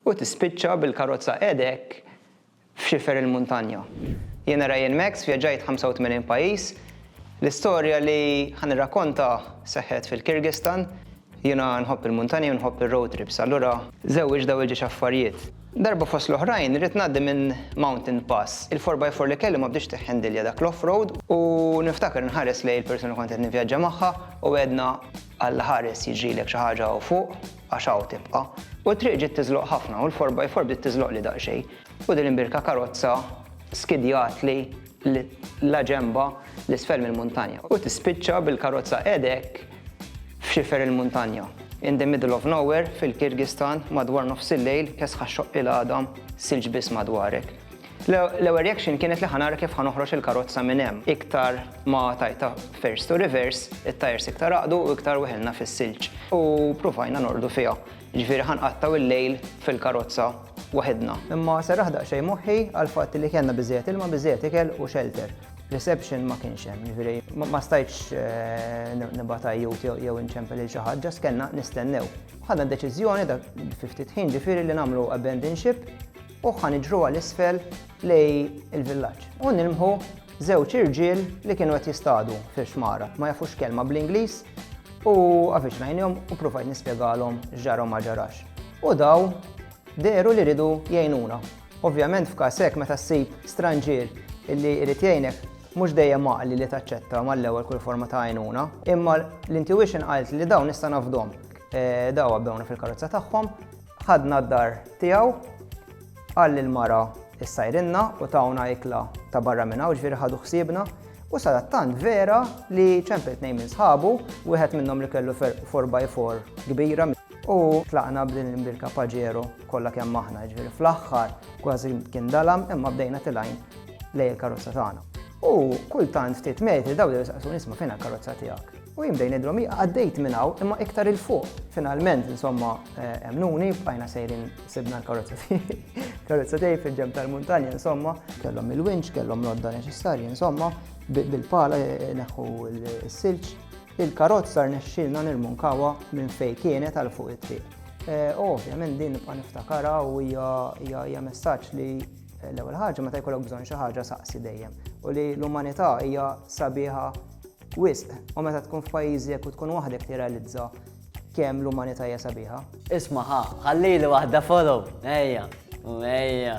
U tispiċċa bil-karozza qiegħdek f'xifer il-muntanja. Jiena Ryan Max, vjaġġajt 85 pajjiż. L-istorja li ħa nirrakkonta seħħet fil-Kirgistan. Jiena nħobb il-muntanja u nħobb ir-road trips, allura żewwiġt dawn il-ġiex affarijiet. Darba fost l-oħrajn irrid ngħaddi minn mountain pass. Il-four by four li kelli ma bdietx tiħħendilja dak l-off-road u niftakar inħares lejn il-persuna li kont qed nivvjaġġa magħha u għedna, Alla ħares jiġrilek xi ħaġa hawn fuq. Għax hawn tibqa'. U t-triq ġiet tiżloq ħafna u l-four by four bdiet tiżloqli daqsxejn. U din imbierka karozza skidjatli la ġenbha l isfel mill-muntanja. U tispiċċa bil-karozza qegħda hekk f'xifer il-muntanja. In the middle of nowhere fil-Kirgistan madwar nofsillejl kesħa xxoqqi l-għadam silġ biss madwarek. L-ewwel reaction kienet li ħa nara kif ħa noħroġ il-karozza minn hemm. Iktar ma tajtha first to reverse, it-tyres iktar għaqdu u iktar weħilna fis-silġ. U pruvajna norqdu fiha. Jiġifieri ħa nqattgħu il-lejl fil-karozza waħidna. Imma serraħ daqsxejn moħħi għall-fatt li kellna biżżejjed ilma, biżżejjed ikel u shelter. Reception ma kienx hemm, jiġifieri ma stajtx nibgħat għajjut jew inċempel lil xi ħadd, ġast kellna nistennew. Ħadna d-deċiżjoni fi ftit ħin ġifieri li nagħmlu abandon ship. u ħa niġru għal isfel lej il-villaġġ u nilmħu żewġ irġiel li kienu qed jistadu fil-xmara, ma jafux kelma bl-Ingliż u avviċnajnhom u provajt nispjegalhom x'ġarhom ma ġarax. U daw deru li ridu jgħinuna. Ovvjament f'każ hekk meta ssib stranġier illi jrid jgħinek mhux dejjem maqli li taċċetta mal-ewwel kull forma ta' għajnuna, imma l-intuition qalt li dawn nista' nafdhom. Eh, daw għabbewna fil-karozza tagħhom, ħadna d-dar tiegħu, qal lil mara s-sajrinna u tawna ikla ta' barra minn hawn ġifieri ħadu ħsiebna u sadattant vera li ċempel tnejn minn sħabu, wieħed minnhom li kellu 4x4 kbira u tlaqna b'din birka paġero kollha kemm aħna ġifieri fl-aħħar kważi kien dalam imma bdejna tilajn lej il-karozza tagħna. U kultant ftit metri daw li saqsu nisma' fejn il-karozza tiegħek. U jien bdejn nidrom hi għaddejt minn hawn imma iktar il fuq. Finalment insomma emnuni bqajna sejrin sibna l-karozza tiegħi. Karozza tiegħi fil-ġemb tal-muntanja insomma. Kellhom il-winċ, kellhom l-odda neċessarji insomma bil-pala neħħu s-silġ. Il-karozza rnexxilna nirmunkawa minn fejn kienet għal fuq it-triq. Eh, ovvjament din nibqa' niftakara u hija messaġġ li eh, l-ewwel ħaġa meta jkollok bżonn xi ħaġa saqsi dejjem u li l-umanità hija sabiħa Wisq, u meta tkun f'pajjiżek u tkun waħdek tirrealizza kemm l-umanità hija sabiħa. Isma' ħa, ħallili waħda follow, ejja, u ejja.